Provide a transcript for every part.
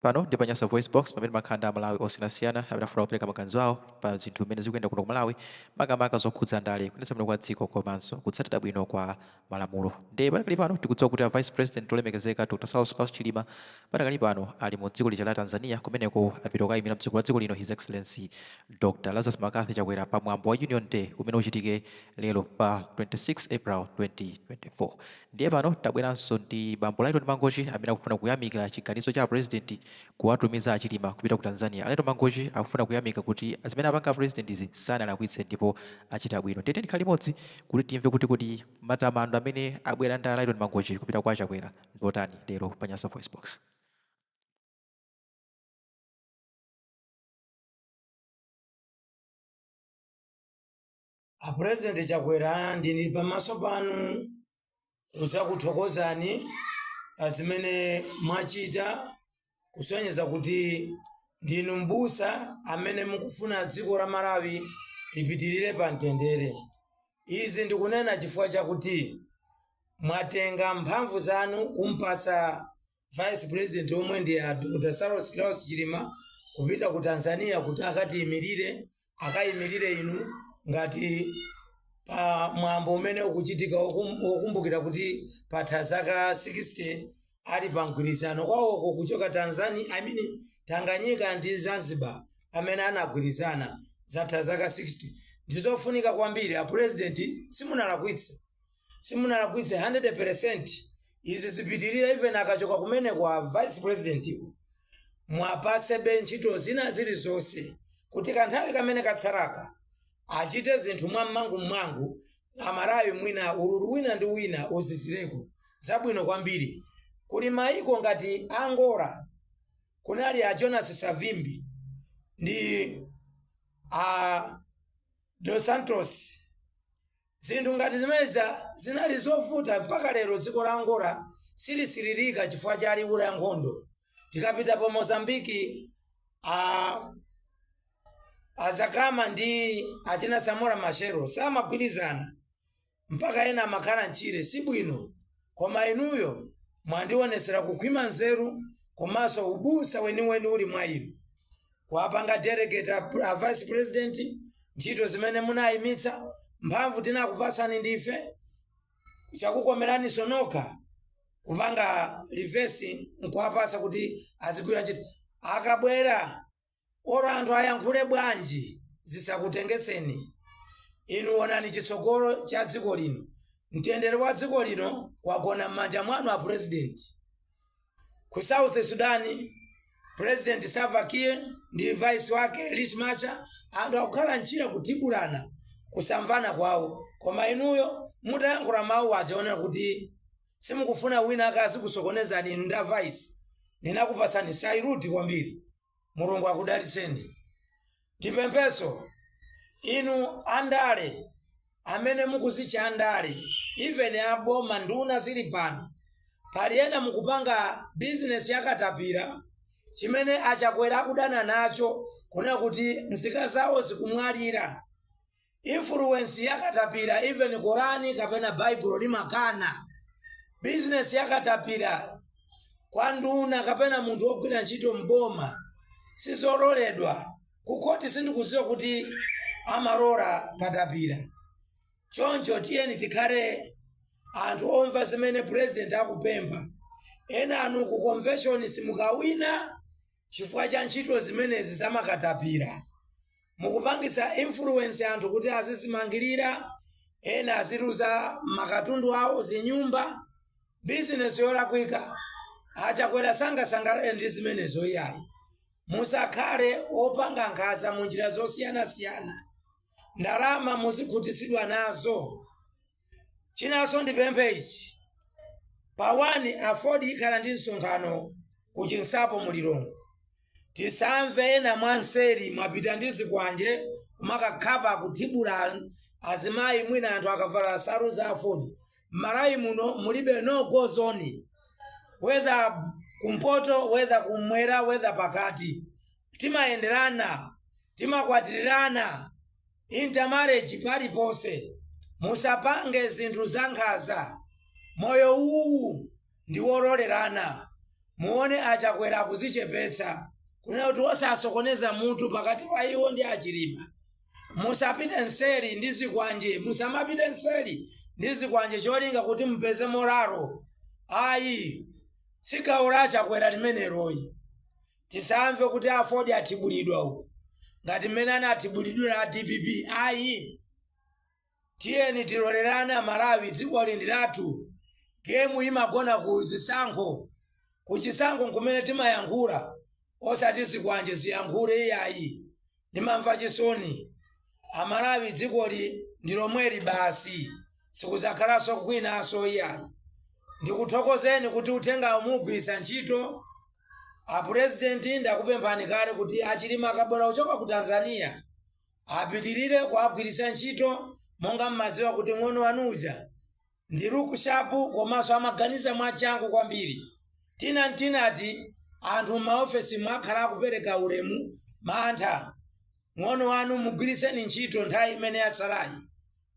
pano ndi pa Nyasa VoiceBox pamene timakhala ndi amalawi osiyanasiyana amene afuna kupereka maganizo awo pa zinthu zimene zikuyenda kuno ku malawi makamaka zokhudza ndale kuyendetsa bwino kwa dziko komanso kutsatira bwino kwa malamulo ndiye padakali pano tikudziwa kuti a vice president olemekezeka dr saulos klaus chilima padakali pano ali mu dziko lija la tanzania kumeneko apita kukayimira mtsogoleri wa dziko lino his excellency dr lazarus mccarthy chakwera pa mwambo wa union day umene uchitike lero pa 26 april 2024 Ndiye pano tabweranso ndi bambo Lyton Mangochi amene akufuna kuyamikira chiganizo cha a President kuwatumiza a Chilima kupita ku Tanzania. A Lyton Mangochi akufuna kuyamika kuti zimene apanga a President zi sanalakwitse ndipo achita bwino. Ndiye tiyeni tikhale limodzi kuti timve kuti kodi matamando amene abwera ndi a Lyton Mangochi kupita kwa a Chakwera ndi otani lero pa Nyasa VoiceBox. A President Chakwera ndili pamaso panu kudzakuthokozani pa zimene mwachita kusonyeza kuti ndinu m'busa amene mukufuna dziko la Malawi lipitirire pa mtendere. Izi ndikunena chifukwa chakuti mwatenga mphamvu zanu kumpatsa vice president omwe ndi a dr saulos klaus chilima kupita ku tanzania kuti akatiyimirire akayimirire inu ngati pa mwambo umene ukuchitika wokum- wokumbukira kuti patha zaka 60 ali pa mgwirizano kwawoko kuchoka tanzania I mean, tanganyika ndi zanzibar pamene anagwirizana zatha zaka 60 ndizofunika kwambiri a president simunalakwitse simunalakwitse 100% izi zizipitirira even akachoka kumeneko a vice president muwapatsebe ntchito zina zilizonse kuti kanthawi kamene katsalaka achite zinthu mwamsangamsanga amalawi mwina ululu wina ndi wina uzizireko zabwino kwambiri kuli maiko ngati angola kunali a jonas savimbi ndi a dos santos Zinthu ngati zimenezi zinali zovuta mpaka lero dziko la Angola silisiririka chifukwa cha liwu la nkhondo. Tikapita pa Mozambique a Dhlakama ndi achina Samora Machel samagwirizana mpaka ena amakhala m'tchire sibwino. koma inuyo mwandionetsera kukhwima nzeru komanso ubusa weniweni uli mwa inu kuwapanga delegate a, a vice president ntchito zimene munayimitsa mphamvu tinakupasani ndife chakukomeraninso nokha kupanga reverse nkuwapasa kuti azigwira ntchito akabwera olo anthu ayankhule bwanji zisakutengetseni inu onani chitsogolo cha dziko lino mtendere wa dziko lino wagona m'manja mwanu a president ku south sudan president salva kiir ndi vice wake riek machar anthu akukhalitsa kutibulana kusamvana kwawo koma inuyo mutayankhula mawu aja onena kuti simukufuna wina akazikusokonezani inu nda vice ndinakupasani saluti kwambiri mulungu akudalitseni ndipempheso inu andale amene mukuzitcha andale even aboma nduna zili pano pali ena mukupanga bizinesi yakatapira chimene a chakwera akudana nacho kunena kuti nzika zawo zikumwalira Influence ya katapira even Korani kapena Baibulo limakana. Business ya katapira kwa nduna kapena munthu wogwira ntchito m'boma sizololedwa. Ku khoti sindikudziwa kuti amalola katapira. Choncho tiyeni tikhale anthu omva zimene president akupempha. Enanu ku convention simukawina chifukwa cha ntchito zimenezi zamakatapira. mukupangitsa influence anthu kuti azizimangirira ena aziluza makatundu awo zinyumba bizinesi yolakwika a chakwera sangasangalale ndi zimenezo iyayi musakhale opanga nkhanza mu njira zosiyanasiyana ndalama muzikhutitsidwa nazo Chinanso ndipemphe ichi pa 1 aford ikhala ndi msonkhano ku chinsapo mu Lilongwe tisamve ena mwa nseri mwapita ndi zikwanje kumakakhapa kutibula azimayi mwina anthu akavala nsalu za aford mmalawi muno mulibe no go zone whether kumpoto whether kumwera whether pakati timayenderana timakwatirirana intermarriage paliponse musapange zinthu zankhanza moyo uwu ndi wololerana muone a chakwera akuzichepetsa kunena kuti osasokoneza mutu pakati pa iwo ndi a chilima musapite nseri ndi zikwanje musamapite nseri ndi zikwanje cholinga kuti mupeze moralo ayi si gawo la a chakwera limeneloyi tisamve kuti a aford atibulidwa uku ngati mmene anatibulidwira a dpp ayi tiyeni tilolerane amalawi dziko lino ndi lathu gemu imagona ku zisankho ku chisankho nkumene timayankhula osati zikwanje ziyankhule iyayi Ndimamva chisoni. Amalawi dzikoli ndi lomweli basi. Sikudzakhalanso kwinanso iyayi. Ndikuthokozeni kuti uthengawu muugwiritsa ntchito. A president ndakupemphani kale kuti a Chilima akabwera kuchoka ku Tanzania apitirire kuwagwiritsa ntchito monga mmadziwa kuti mng'ono wanu uja Ndi look sharp komanso amaganiza mwachangu kwambiri. Tina Ntinati anthu mmaofesimu akhala akupeleka ulemu mantha mng'ono wanu mugwilitseni ntchito nthawi imene yatsalayi.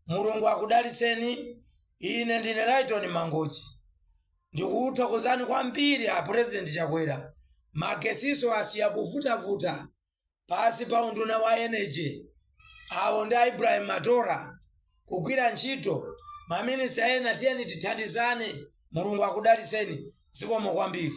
Mulungu akudalitseni ine ndine Lyton Mangochi. Ndikukuthokozani kwambiri a president Chakwera. Magesiso asiya kuvutavuta. pansi pa unduna wa Energy, awo ndi a Ibrahim Matola, kugwira ntchito, ma minister ena tiyeni tithandizane, Mulungu akudalitseni, zikomo kwambiri.